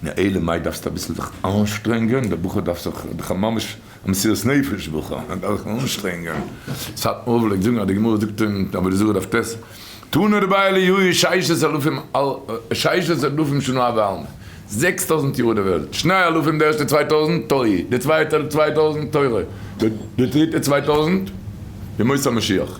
ו. אלא מאי דארפסטו אביסל זיך אנשטרענגען, דער בחור דארף זיך, דאך א ממש א מסירות נפש בחור, ער דארף זיך אנשטרענגען, סאטמאר פלעגט זאגן אז די גמרא זאגט אין עבודה זרה דף טז, תנו רביה ליהיו ששת אלפים ששת אלפים שנה ועלמא, זעקס טויזנט יאר איז די וועלט, שני אלפים די ערשטע צוויי טויזנט תוהי, די צווייטע צוויי טויזנט תורה, די דריטע צוויי טויזנט ימות המשיח.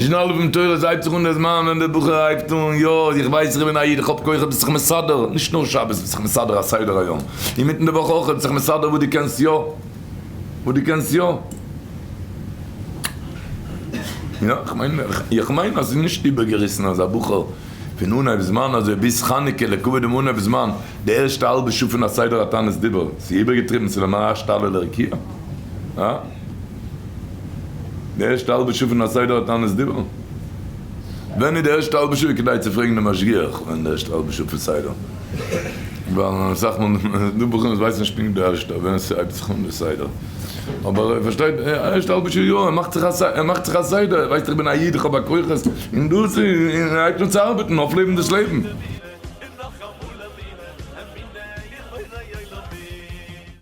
שנעל אויף דעם תורה, עס הייבט זיך אן דער זמן ווען דער בחור הייבט אן, יא, איך ווייס איך בין א איד, איך האב כוחות ביסט זיך מסדר, נישט נאר שבת ביסט זיך מסדר א סדר היום, אינמיטן די וואך אויך, ביסט זיך מסדר וואס דו קענסט יא, וואס דו קענסט יא. יא, איך מיין, איך מיין אז ס'איז נישט איבערגעריסן אז א בחור פון אנהייב זמן אזוי ביז חנוכה לכבוד דעם אנהייב זמן, די ערשטע האלבע שעה פון א סדר התענית דיבור, ס'איז איבערגעטריבן, ס'איז למעשה א שתלה לרקיע, הא? די ערשטע האלבע שעה פון א סדר התענית דיבור? ווען איז די ערשטע האלבע שעה כדאי צו פרעגן דעם משגיח ווען איז די ערשטע האלבע שעה פון סדר? ווייל אסאך מאל איז דא בחורים וואס ווייסן נישט פונקט די ערשטע ווען ס'הייבט זיך אן די סדר, אבער ער פארשטייט די ערשטע האלבע שעה יא, ער מאכט זיך א סדר, ער מאכט זיך א סדר, ער ווייסט איך בין א איד איך האב א כוחות און דאס און ער הייבט אן צו ארבעטן אויפלעבן דאס לעבן.